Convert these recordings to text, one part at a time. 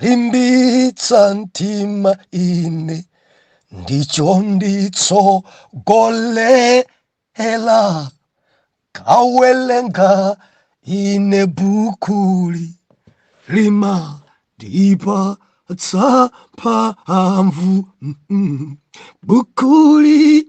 cholimbitsa mtima ine ndicho chinanditsogolera kuwerenga ine bukuli limandipatsa mphamvu mm, mm. bukuli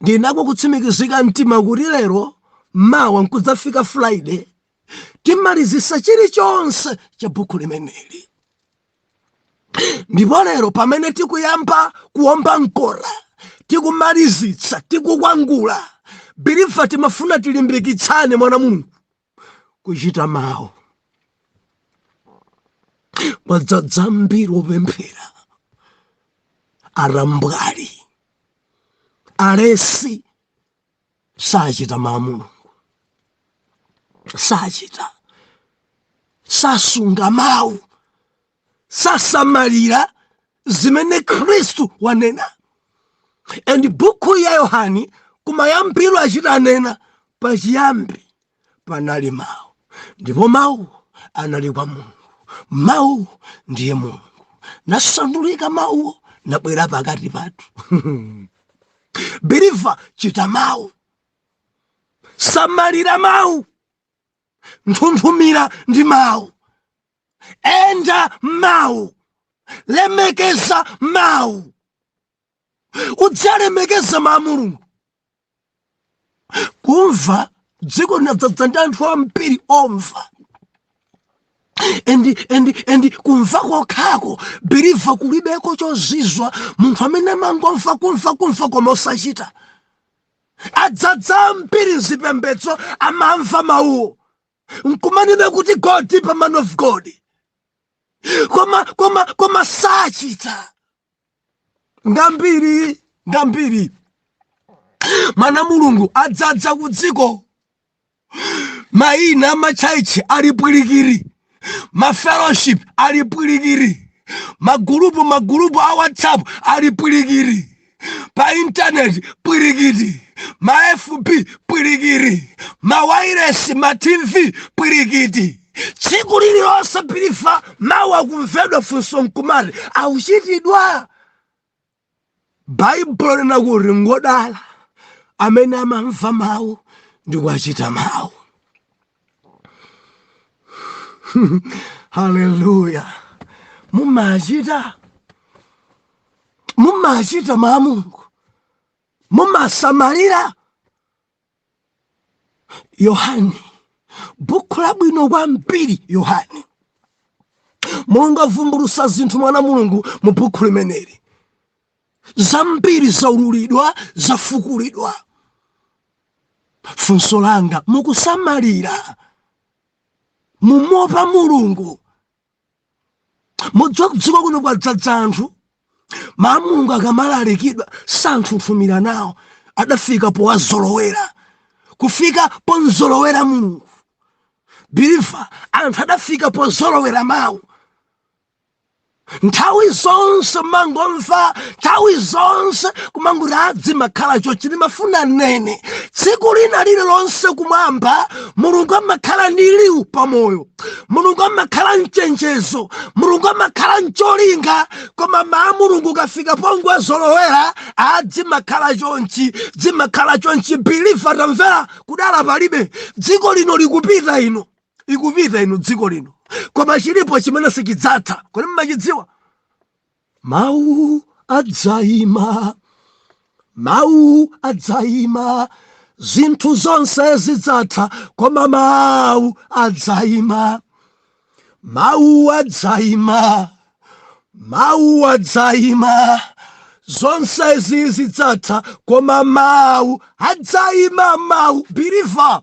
ndinako kutsimikizika mtima kuti lero mawa nkudzafika friday timalizitsa chilichonse cha buku limeneli ndipo lero pamene tikuyamba kuomba mkota tikumalizitsa tikukwangula biliva timafuna tilimbikitsane mwana wa mulungu kuchita mawu kwadzadza ambiri opemphera atambwali alesi sachita mawu a mulungu sachita sasunga mawu sasamalira zimene khristu wanena and buku ya yohane kumayambiro achita kunena pachiyambi panali mawu ndipo mawuwo anali kwa mulungu mawuwo ndiye mulungu nasandulika mawuwo nabwera pakati pathu biliva chita mawu samalira mawu nthunthumira ndi mawu enda mawu lemekeza mawu udzilemekeza mawu a mulungu kumva dziko linadzadza ndi anthu ambiri omva endi endi endi kumva kokhako biliva kulibeko chozizwa kwa munthu amene amangomva kumva kumva koma osachita adzadza ambiri mzipembedzo amamva mawuwo nkumanena kuti go deeper man of god koma koma koma sachita ngambiri ngambiri mwana wa mulungu adzadza ku dziko maina a matchalitchi ali pwirikiti mafellowship ali pwirikiti magulupu magulupu a whatsapp ali pwirikiti pa intaneti pwirikiti ma fb pwirikiti ma wairesi ma tv pwirikiti tsiku lililonse biliva mawu akumvedwa funso nkumati akuchitidwa baibulo linati ngodala amene amamva mawu ndi kuwachita mawu haleluya mumachita mumachita mawu a mulungu mumasamalira yohane bukhu labwino kwambiri yohane mulungu avumbulutsa zinthu mwana mulungu mu bukhu limeneli zambiri zaululidwa zafukulidwa funso langa mukusamalira mumopa mulungu mudziwa kudziko kuno kwadzadza anthu mawu a mulungu akamalalikidwa santhunthumira nawo adafika powazolowera kufika pomzolowera mulungu believer anthu adafika pozolowera mawu nthawi zonse mangomva nthawi zonse kumangoti a dzimakhala chonchi ndimafuna ndinene tsiku lina lililonse kumwamba mulungu amakhala ndi liwu pamoyo mulungu amakhala nchenjezo mulungu amakhala ncholinga koma mawu a mulungu ukafika pongowazolowera a dzimakhala chonchi dzimakhala chonchi believer tamvera kudala palibe dziko lino likupita inu ikupita inu dziko lino koma chilipo chimene sichidzatha kodi mmachidziwa mawu adzaima mawu adzaima zinthu zonse zidzatha koma mawu adzaima mawu adzaima mawu adzaima zonsezi zidzatha koma mawu adzaima mawu believer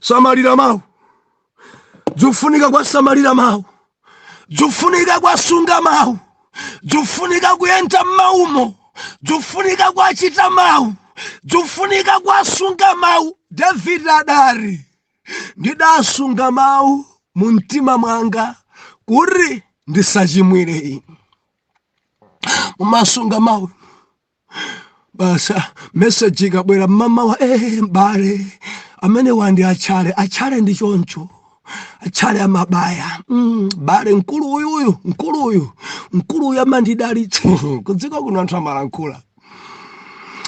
samalira mawu zikufunika kwasamalira mawu zikufunika kwasunga mawu zikufunika kuyenda mmawumo zikufunika kwachita mawu zikufunika kwasunga mawu david adati ndidasunga mawu mu mtima mwanga kuti ndisachimwire inu mumasunga mawu basi meseji ikabwera mmamawa eh, mbale amenewa ndi atchale atchale ndi choncho atchale amabaya mbale mkulu uyuyu mkulu uyu mkulu uyu amandidalitsa kudziko kuno anthu amalankhula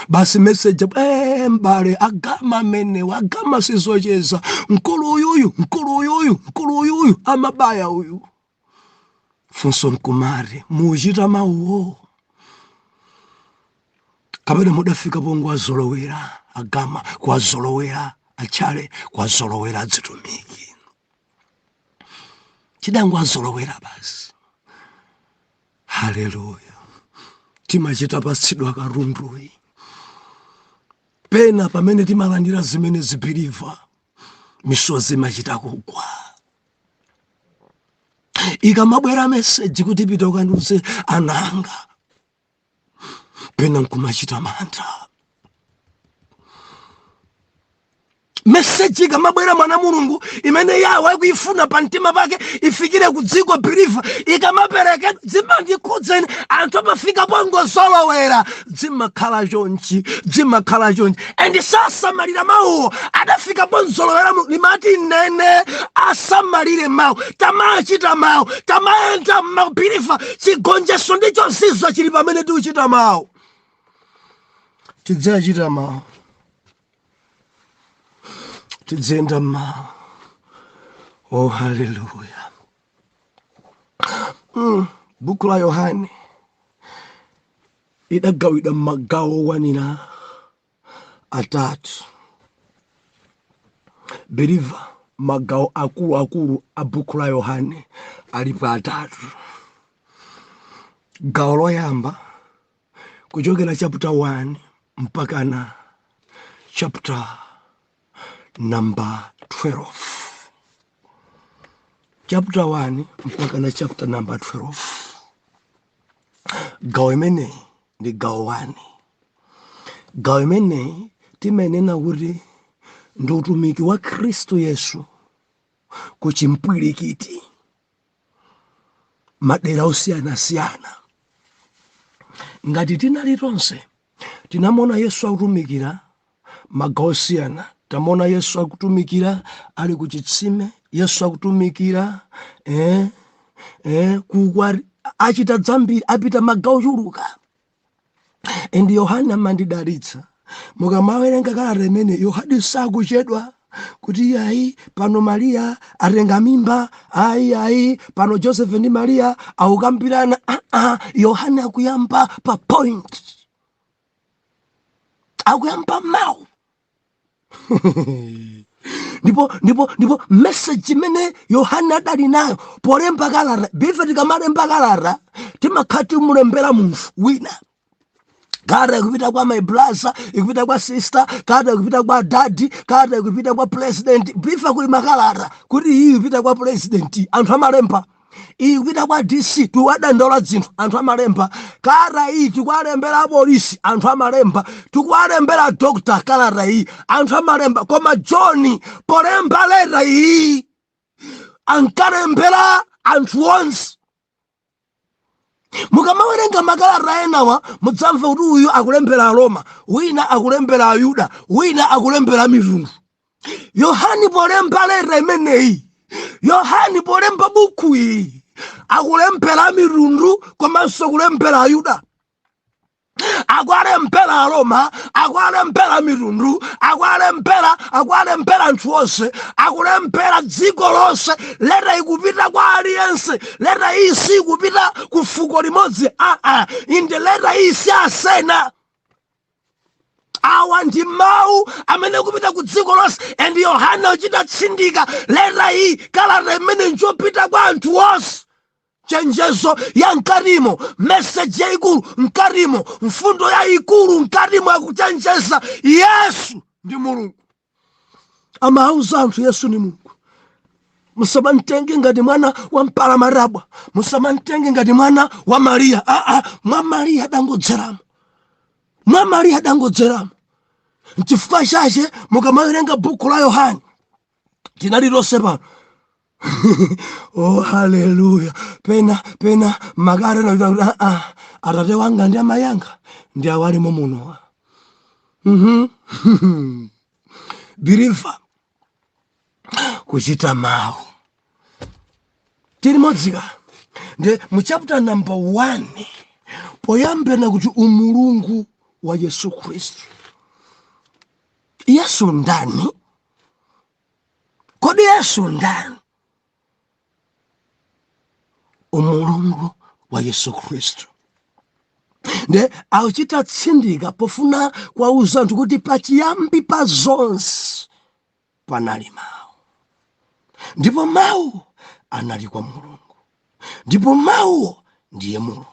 basi meseji eh, mbale agama amenewa agama sizocheza mkulu uyuyu mkulu uyuyu mkulu uyuyu amabaya uyu funso nkumati muchita mawuwo kapena mudafika pongowazolowera a gama kuwazolowera a tchale kuwazolowera adzitumiki tidangowazolowera basi haleluya timachita patsidwa katunduyi pena pamene timalandira zimenezi biliva misozi imachita kugwa ikamabwera meseji kuti pita ukandiuze ananga pena nkumachita mantha meseji ikamabwera mwana mulungu imene yawe akuyifuna pa mtima pake ifikire ku dziko biriva ikamaperekedwa dzimandikhudza ine anthu amafika pongozolowera dzimakhala chonchi dzimakhala chonchi and sasamalira mawuwo adafika pongozolowera mu- limati nene asamalire mawu tamachita mawu tamayenda mmawu biliva chigonjetso ndi chozizwa chili pamene tiuchita mawu tidzachita mawu tidziyenda mmawu oh haleluya mm. buku la yohane idagawidwa m'magawo okwanira atatu beliva magawo akuluakulu a bukhu la yohane alipo atatu gawo loyamba kuchokera chaputa 1 mpakana chaputa namba 12 chaputa 1 mpakana chaputa namba 12 gawo imeneyi ndi gawo wani gawo imeneyi timenena kuti ndi utumiki wa khristu yesu ku chimpwirikiti madera osiyanasiyana ngati tinali tonse Tinamona Yesu akutumikira magawo osiyana. Tamona Yesu akutumikira ali ku chitsime, Yesu akutumikira eh, eh, ku ukwati achita dzambiri, apita magawo ochuluka. And Yohane amandidalitsa mukamawerenga kalata imene Yohane sakuchedwa kuti ayi pano mariya atenga mimba ayi ayi pano joseph ndi mariya akukambirana aa ah, ah, yohane akuyamba pa point akuyamba mawu ndipo ndipo ndipo meseji imene yohane adali nayo polemba kalata ife tikamalemba kalata timakhala timulembera munthu wina kalata ikupita kwa my brother ikupita kwa sister kalata ikupita kwa daddy kalata ikupita kwa president chifukwa kuli makalata kuti iyi ikupita kwa president anthu amalemba iyi ikupita kwa dc tikuwadandaula zinthu anthu amalemba kalata iyi tikuwalembera apolisi anthu amalemba tikuwalembera dokta kalata iyi anthu amalemba koma john polemba leta iyi ankalembera anthu onse mukamawerenga makalata enawa mudzamva kuti uyu akulembera aroma wina akulembera ayuda wina akulembera amitundu yohani polemba leta imeneyi yohani polemba buku iyi akulembera amitundu komanso kulembera ayuda akuwalembera aroma akuwalembera amitundu akuwalembera akuwalembera anthu onse akulembera dziko lonse leta ikupita kwa aliyense leta iyi siikupita ku fuko limodzi aa inde leta iyi si ya asena awa ndi mawu amene akupita ku dziko lonse and yohane akuchita tsindika leta iyi kalata imene njopita kwa anthu onse chenjezo ya mkatimo meseji yaikulu mkatimo mfundo yaikulu mkatimo yakuchenjeza yesu ndi mulungu amauza anthu yesu ni mulungu musamamtenge ngati mwana wa mpalamatabwa musamamtenge ngati mwana wa mariya aa mwa mariya adangodzeramo mwa mariya adangodzeramo nchifukwa chache mukamawerenga buku la yohane tinali tonse pano oh haleluya pena pena magari na ah, ah. atate wanga ndi amayi anga ndi awalimo muno mm -hmm. biliva kuchita mawu tiri modzika ndi mu chapter number 1 poyambira kuti umulungu wa yesu khristu yesu ndani kodi yesu ndani umulungu wa yesu khristu nde akuchita tsindika pofuna kuwauza anthu kuti pachiyambi pa zonse panali mawu ndipo mawu anali kwa mulungu ndipo mawuwo ndiye mulungu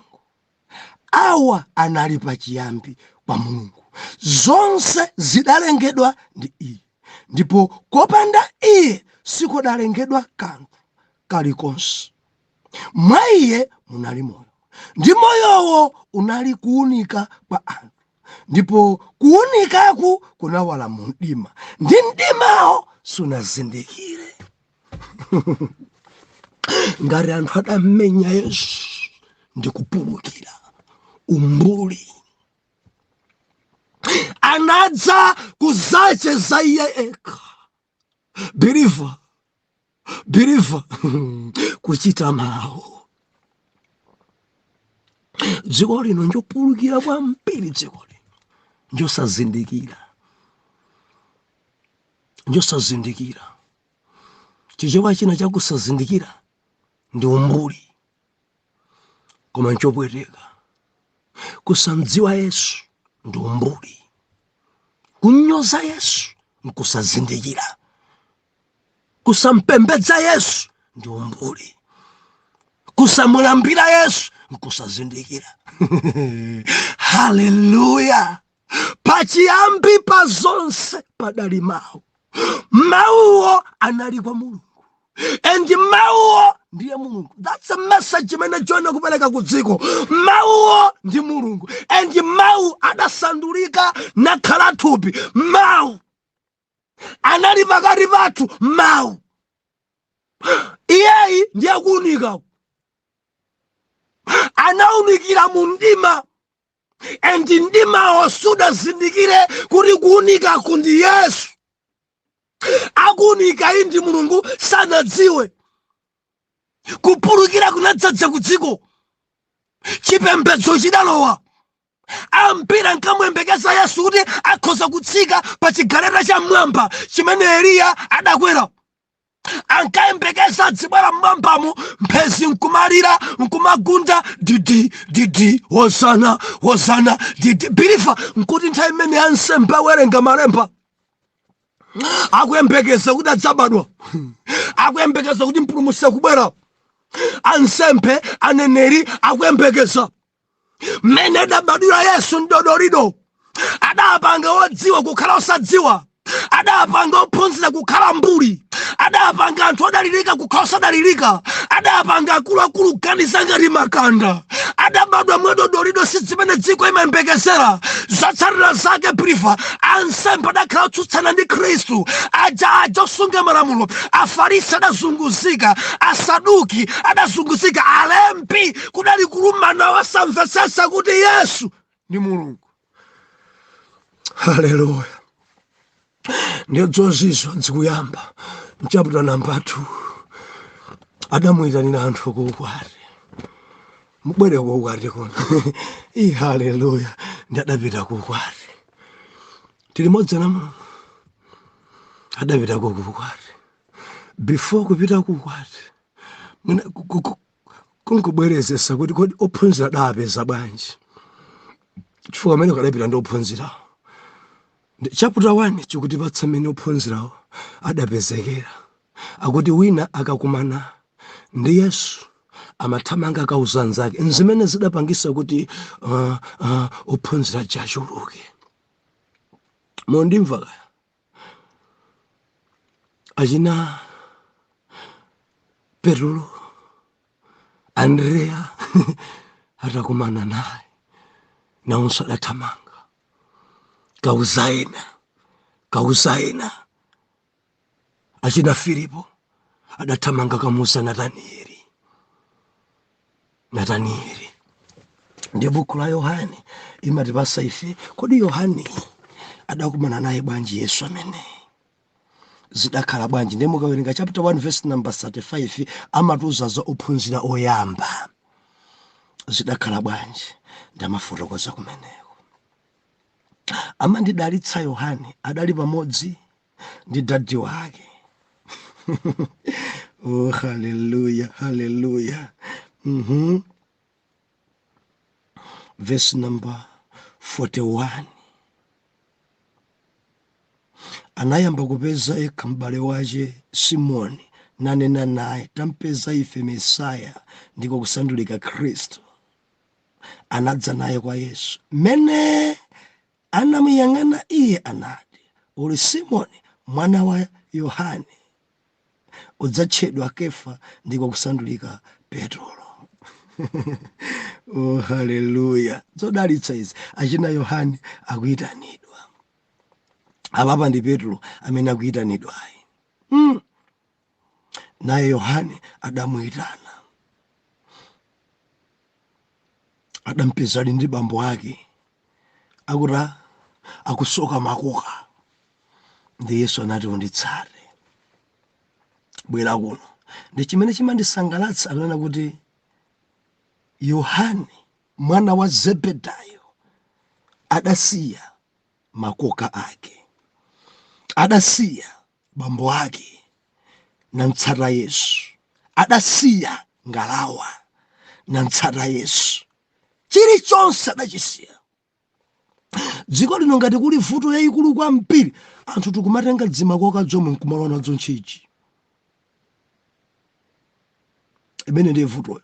awa anali pachiyambi kwa mulungu zonse zidalengedwa ndi iye ndipo kopanda iye sikudalengedwa kanthu kalikonse mwa iye munali moyo ndi moyowo unali kuunika kwa anthu ndipo kuunikaku kunawala mu mdima ndi mdimawo sunazindikire ngati anthu adammenya yesu ndi kupulukira umbuli anadza kuzacheza iye yekha believer believer kuchita mawu dziko lino njopulukira kwambiri dziko lino njosazindikira njosazindikira chichewa china chakusazindikira ndi umbuli koma nchopweteka kusamdziwa yesu ndi umbuli kunyoza yesu nkusazindikira kusampembedza yesu ndi umbuli kusamulambira yesu nkusazindikira haleluya pachiyambi pa zonse padali mawu mawuwo anali kwa mulungu and mawuwo ndiye mulungu that's a message imene john akupereka ku dziko mawuwo ndi mulungu and mawu adasandulika nakhala thupi mawu anali pakati pathu mawu iyeyi ndiye kuunika anaunikira mu mdima and mdimawo sudazindikire kuti kuunikaku ndi yesu akuunika iyi ndi mulungu sanadziwe kupulukira kunadzadza ku dziko chipembedzo chidalowa ambiri ankamuyembekeza yesu kuti akhoza kutsika pa chigaleta cha mmwamba chimene eliya adakwera ankayembekeza adzibwera mmwambamu mphezi nkumalira nkumagunda didi didi hosana hosana didi believer nkuti nthawi imene ansembe awerenga malemba akuyembekeza kuti adzabadwa akuyembekeza kuti mpulumutsi akubwera ansembe aneneri akuyembekeza mmene adabadwira yesu mdodolido adapanga odziwa kukhala osadziwa adapanga ophunzira kukhala mbuli adapanga anthu odalirika kukhala osadalirika adapanga akuluakulu kuganiza ngati makanda adabadwa mwadodolido si zimene dziko imayembekezera zotsatira zake believer ansembe adakhala otsutsana ndi khristu aja aja osunga malamulo afarisi adazunguzika asaduki adazunguzika alembi kudali kulimbana osamvetsetsa kuti yesu ndi mulungu haleluya ndiyo zozizwa zikuyamba mchaputa namba 2 adamuyitanira anthu kuukwati mubwere kuukwati kuno i haleluya ndi adapita kuukwati tili limodzi na mulungu adapita kuukwati before kupita kuukwati mwina ku- ku- ku- kungobwerezesa kuti kodi ophunzira adawapeza bwanji chifukwa kumeneku adapita ndi ophunzirawo chaputa 1 chikutipatsa mmene ophunzirawo adapezekera akuti wina akakumana ndi yesu amathamanga kukauza anzake nzimene zidapangisa kuti uh, uh, ophunzira aja achuluke mukundimva kaya achina Petulo, Andrea atakumana naye nawonso adathamanga kukauza ena kukauza ena achina Filipo adathamanga kukamuuza Nataniyeli nataniyeli ndiye buku la yohane limatipasa ife kodi yohane adakumana naye bwanji yesu ameneyi zidakhala bwanji ndiye mukawerenga chapter 1 verse number 35 amatiuza za ophunzira oyamba zidakhala bwanji nde amafotokoza kumeneko amandidalitsa yohane adali pamodzi ndi dadi wake oh, haleluya haleluya mm -hmm. verse number 41 anayamba kupeza yekha m'bale wache simoni nanena naye tampeza ife mesaya ndiko kusandulika khristu anadza naye kwa yesu mmene Anamuyang'ana Iye, anati, Uli Simoni, mwana wa Yohane. Udzatchedwa Kefa, ndiko kusandulika Petro. oh, haleluya! Zodalitsa izi, achina Yohane akuyitanidwa. Apapa ndi Petro amene akuyitanidwayi. Mm. naye yohane adamuyitana adampeza ali ndi bambo ake akuti akusoka makoka ndi yesu anati unditsate bwera kuno ndi chimene chimandisangalatsa akunena kuti yohane mwana wa zebedayo adasiya makoka ake adasiya bambo ake namtsata yesu adasiya ngalawa namtsata yesu chilichonse adachisiya dziko lino ngati kuli vuto yayikulu kwambiri anthu tikumatenga dzimakoka dzomwe nkumalowa nadzo mtchitchi imene ndiye vutoyo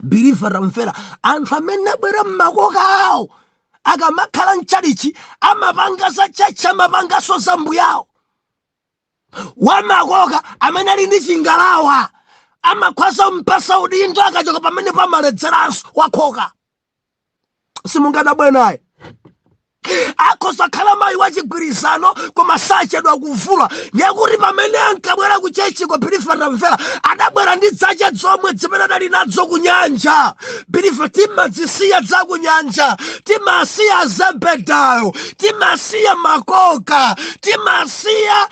believer tamvera anthu amene abwera mmakoka awo akamakhala mchalichi amapanga za chechi amapanganso za mbuyawo wamakoka amene ali ndi chingalawa amakhwaza mpasa udindo akachoka pamene pamaledzeranso wakhoza simungadabwe naye akhoza khala mayi wa chigwirizano koma sachedwa kuvula ndiyekuti pamene ankabwera ku chechiko believer tamvera adabwera ndi dzache dzomwe dzimene adali nadzo ku nyanja believer timadzisiya dza ku nyanja timasiya zebedayo timasiya makoka timasiya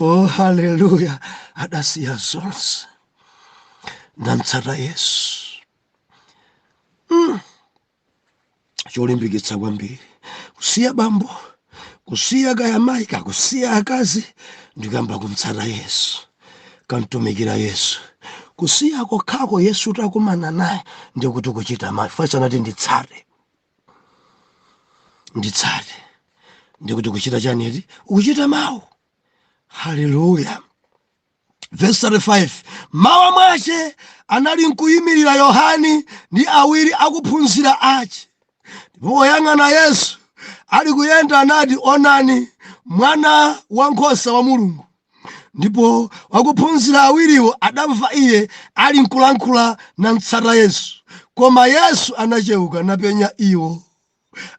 oh haleluya adasiya zonse namtsata yesu mm. cholimbikitsa kwambiri kusiya bambo kusiya kaya mayi kaya kusiya akazi ndikuyamba kumtsata yesu kamtumikira yesu kusiya kokhako yesu takumana naye ndikuti kuchita mawu paja anati nditsate nditsate ndikuti kuchita chani eti ukuchita mawu haleluya vesi 35 mmawa mwache anali nkuyimirira yohane ndi awiri akuphunzira ache ndipo poyang'ana yesu ali kuyenda anati onani mwana wa nkhosa wa mulungu ndipo wakuphunzira awiriwo adamva iye ali nkulankhula namtsata yesu koma yesu anacheuka napenya iwo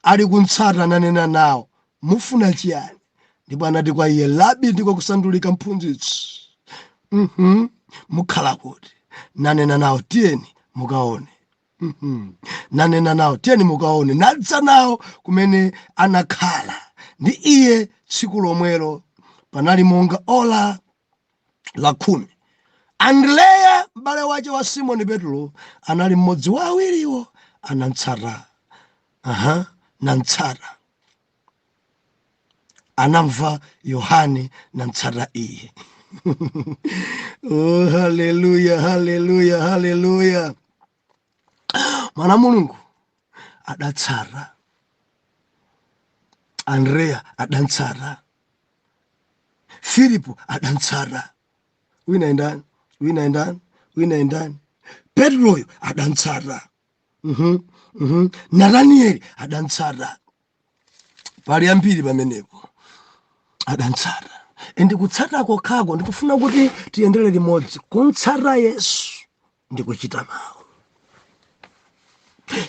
ali kumtsata nanena nawo mufuna chiyani ndipo anati kwa iye rabi ndiko kusandulika mphunzitsi mhm mukhala kuti nanena nawo tiyeni mukaone Mhm. nanena nawo tiyeni mukaone nadza nawo kumene anakhala ndi iye tsiku lomwelo panali monga ola la khumi andreya m'bale wache wa simoni petulo anali mmodzi wa awiriwo anamtsata aha namtsata anamva yohane namtsata iye oh, haleluya haleluya haleluya mwana wa mulungu adamtsata andreya adamtsata filipo adamtsata wina ndani wina ndani wina ndani petuloyo adamtsata nataniyeli adantsata pali ambiri pamenepo adantsata endi kutsata kokhako ndikufuna kuti tiyendere limodzi kumtsata yesu ndikuchita mawu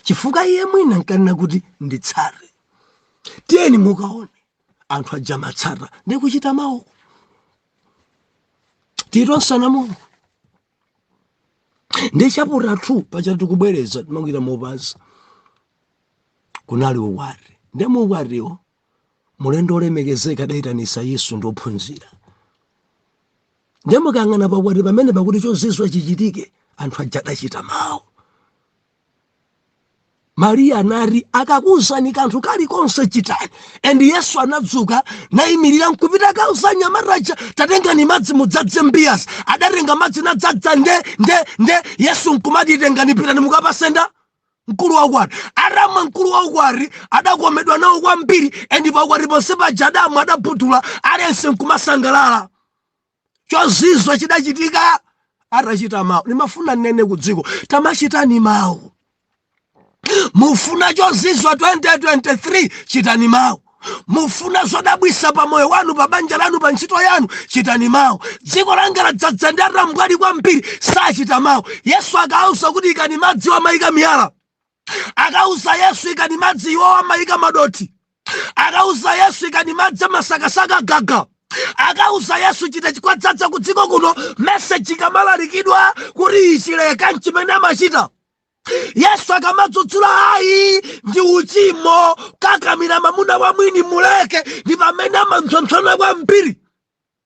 chifukwa iye mwina nkanena kuti nditsate tiyeni mukaone anthu aja matsata ndikuchita mawu tiyanjana mulungu ndi chaputala 2 paja tikubwereza timangogwira mopasa kunali ukwati ndi mu ukwatiwo mulendo olemekezeka adayitanitsa yesu ndi ophunzira ndi mukayang'ana pakwati pamene pakuti chozizwitsa chichitike anthu aja adachita mawu mariya anati akakuuzani kanthu kalikonse chitani and yesu anadzuka nayimirira nkupita akauza anyamata aja tatengani madzi mudzadze mbiyazi adatenga madzi nadzadza nde nde nde yesu nkumati tengani pitani mukapatse mkulu wa ukwati atamwa mkulu wa ukwati adakomedwa nawo kwambiri and paukwati ponse paja adamwa adabhudula aliyense nkumasangalala chozizwa chidachitika atachita mawu ndimafuna nnene ku dziko tamachitani mawu mufuna chozizwa 2023 chitani mawu mufuna zodabwisa pa moyo wanu pa banja lanu pa ntchito yanu chitani mawu dziko langa ladzadza ndi atambwali kwambiri sachita mawu yesu akawauza kuti ikani madzi amayika miyala akausa yesu ikani madzi iwo amayika madothi akawauza yesu ikani madzi amasakasaka gaga akawauza yesu chita chikudzadza ku dziko kuno meseji ikamalalikidwa kuti ichi leka nchimene amachita yesu akamadzudzula ayi ndi uchimo kukakamira mamuna wa mwini muleke ndi pamene amamtsompsona kwambiri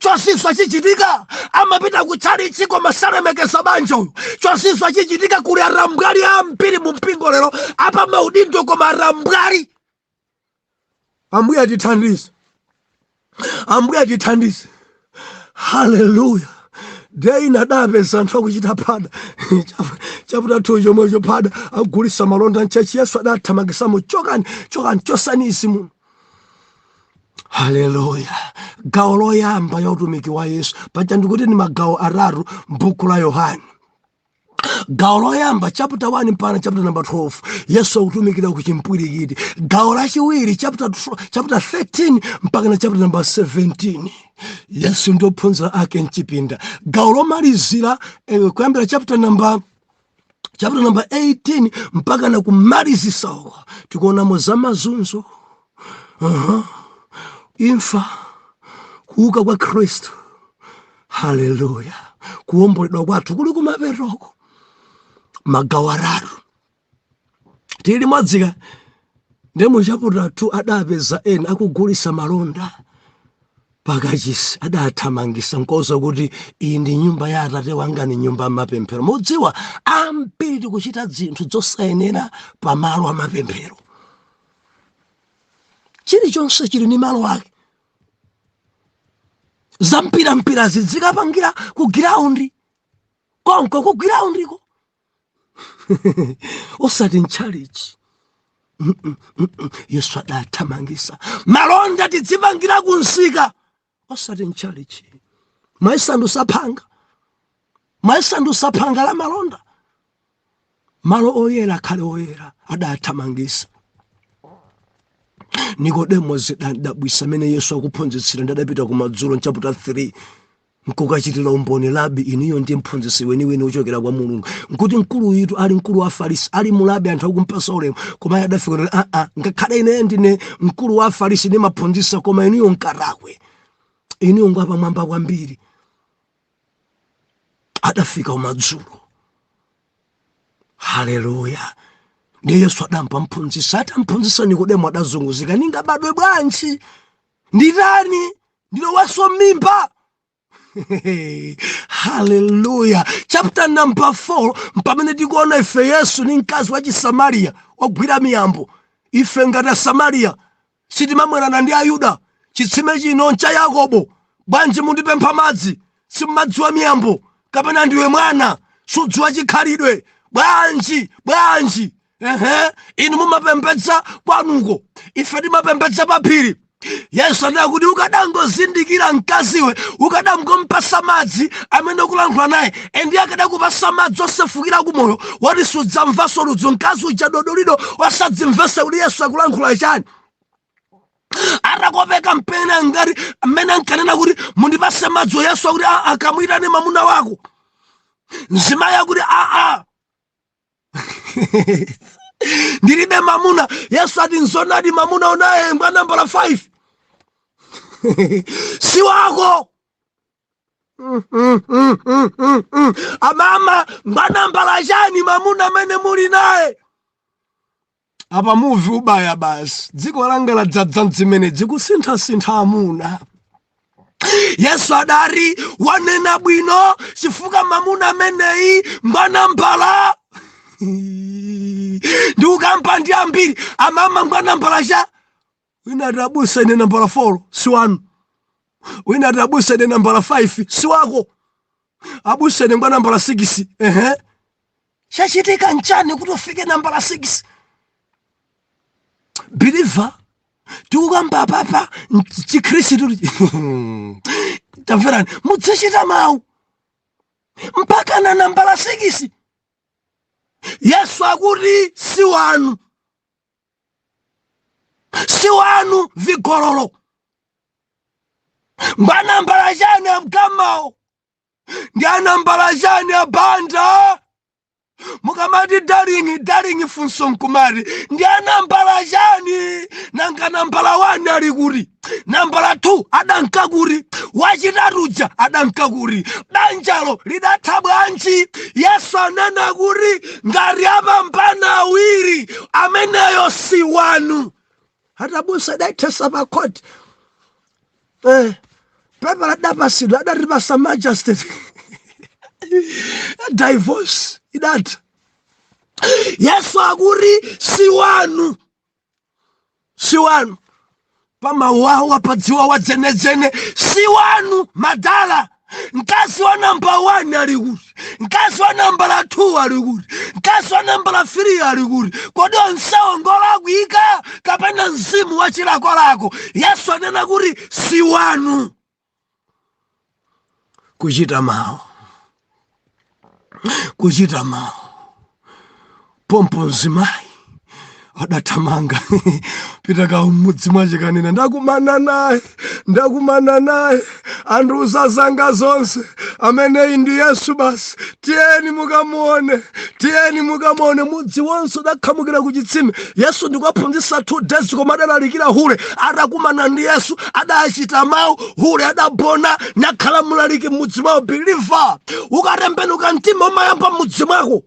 chozizwa chichitika amapita kutchalitchi koma salemekeza banja uyu chozizwa chichitika kuli atambwali ambiri mu mpingo lero a pa maudindo koma atambwali ambuye atithandize ambuye atithandize haleluya day ina adapeza anthu akuchita phada chaputa thu chomwecho phada agulitsa malonda mtchetchi yesu adathamangitsamo chokani chokani chotsani izi muno haleluya gawo loyamba la utumiki wa yesu paja ndikuti ndi magawo atatu mbuku la yohane gawo loyamba chapter 1 mpakana chapter number 12 yesu akutumikira ku chimpwirikiti gawo lachiwiri chapter 13 mpakana chapter number 17 yesu ndi ophunzira ake mchipinda gawo lomalizira eh, kuyambira chapter number chapter number 18 mpaka na kumalizisa uko tikuonamo za mazunzo uh -huh. imfa kuuka kwa khristu haleluya kuomboledwa kwathu kuli kumapetoko magawo atatu tili limodzi ka ndiye mu chaputala 2 adapeza ena akugulisa malonda pakachisi adathamangisa nkuwauza kuti iyi ndi nyumba ya atate wanga ni nyumba yamapemphero mudziwa ambiri tikuchita zinthu zosayenera pa malo amapemphero chilichonse chili ni malo ake zampirampirazi tikapangira ku giraundi konko ku giraundi ko osati mtchalichi yesu adathamangisa malonda tidzipangira kumsika osati mtchalichi mwayisandusa phanga mwayisandusa phanga la malonda malo oyera akhale oyera adathamangisa nikodemo zidamdabwitsa mmene yesu akuphunzitsira nde adapita kumadzulo mchaputa 3 nkukachitira umboni labi inuyo ndi mphunzitsi weniweni wochokera kwa mulungu nkuti mkulu uyitu ali mkulu wa afarisi ali mulabi anthu akumpatsa ulemu koma iye adafika kuti aa ngakhale ineyo ndine mkulu wa afarisi ndimaphunzitsa koma inuyo nkatakwe inuyo ngwapamwamba kwambiri adafika kumadzulo haleluya ndiye yesu adamphunzitsa atamphunzitsa nikodemo adazunguzika ningabadwe bwanji nditani ndilowenso mmimba haleluya chapter number 4 mpamene tikuona ife yesu ni mkazi wa chisamariya ogwira miyambo ife ngati asamariya sitimamwerana ndi ayuda chitsime chino ncha yakobo bwanji mundipempha madzi simumadziwa miyambo kapena ndiwe mwana sudziwa chikhalidwe bwanji bwanji ehe inu mumapembedza kwanuko ife timapembedza paphiri yesu anati kuti ukadangozindikira mkaziwe ukadangompatsa madzi amene ukulankhula naye endi iye akadakupatsa madzi osefukira kumoyo woti sudzamvanso ludzu mkazi uja dodolido asadzimvetse kuti yesu akulankhula chani atakopeka mpena ngati mmene ankanena kuti mundipatse madzi yesu akuti kamuyitane mamuna wako mzimayi akuti aa ndilibe mamuna yesu ati nzonadi mamuna unaye ngwa nambala 5 si wako mm, mm, mm, mm, mm, mm. amama ngwa nambala chani mamuna amene muli naye apa muvi ubaya basi dziko langa ladzadza ndzimenedzi kusinthasintha amuna yesu adati wanena bwino chifukwa mamuna ameneyi ngwa nambala ndi ukamba ndi ambiri amama ngwa nambala cha wina ati abusa ine nambala 4 si wanu wina ati abusa ine nambala 5 si wako abusa ine ngwa nambala 6 ehe chachitika nchani kuti ufike nambala 6 believer tikukamba apapa chikhristu tamverani mudzichita mawu mpaka na nambala 6 yesu akuti si wanu si wanu vigololo ngwa nambala chani amamawo ndi a nambala chani abanda mukamati darling darling funso nkumati ndi a nambala chani nanga nambala wani ali kuti nambala 2 adanka kuti wachitatu uja adanka kuti banjalo lidatha bwanji yesu anena kuti ngati apambana awiri ameneyo si wanu ati abusa adaithesa pakhoti eh, pepala adapasidwa adatipasa magistrate divorce idatha yesu akuti si wanu si wanu pamawawa padziwa wadzenedzene si wanu madala mkazi wa nambala 1 ali kuti mkazi wa nambala 2 ali kuti mkazi wa nambala 3 ali kuti kodi onsewo ngolakwika kapena mzimu wa chilakolako yesu anena kuti si wanu kuchita mawu kuchita mawu pompo mzimayi adathamanga pita kwawo m'mudzi mwache kanena ndakumana naye ndakumana naye andiuza zanga zonse ameneyi ndi yesu basi tiyeni mukamuone tiyeni mukamuone mudzi wonse udakhamukira ku chitsime yesu ndikuwaphunzitsa two days koma adalalikira hule atakumana ndi yesu adachita mawu hule adabona nakhala mlaliki m'mudzi mwawo biliva ukatembenuka mtima umayamba m'mudzi mwako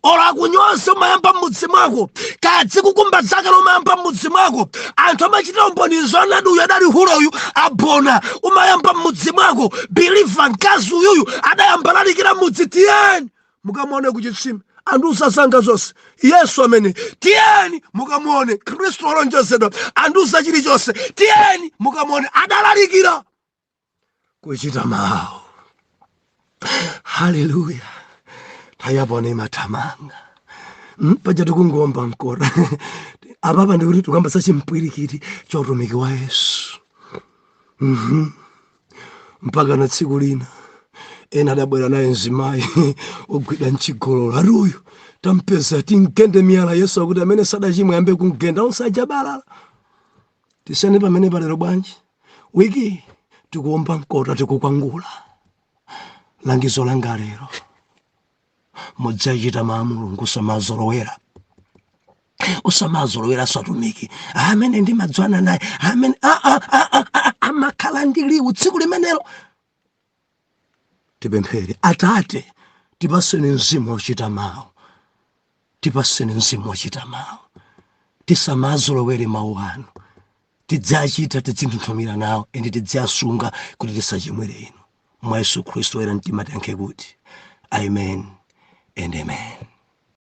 olo akunyoze umayamba m'mudzi mwako kadzikukumba dzakale umayamba m'mudzi mwako anthu amachitira umboni zoonadi uyu adali hule uyu abona umayamba m'mudzi mwako biliva mkazi uyuyu adayamba lalikira mudzi tiyeni mukamuone ku chitsime andiuza zanga zonse yesu amene tiyeni mukamuone khristu wolonjezedwa andiuza chilichonse tiyeni mukamuone adalalikira kuchita mawu haleluya nthawi ya pano imathamanga hmm, paja tikungowomba mkota apapa ndikuti tikukamba za chimpwirikiti cha utumiki wa yesu mhm. mpaka na tsiku lina ena adabwera naye mzimayi ogwidwa m'chigololo ati uyu tampeza timugende miyala yesu akuti amene sadachimwe ayambe kumugenda onse anabalalika tisiyane pamene palero bwanji week tikuomba mkota tikukwangula langizo langa lero mudziachita mawu a mulungu usamazolowera usamazolowera satumiki amene ndimadzana naye amene amakhala ndi liwu tsiku limenelo tipemphere atate tipatseni mzimu wochita mawu tipatseni mzimu wochita mawu tisamazolowere mawu anu tidziachita tidzinthunthumira nawo ende tidziasunga kuti tisachimwire inu mwa yesu khristu oyera mtima tiyankhe kuti amen and amen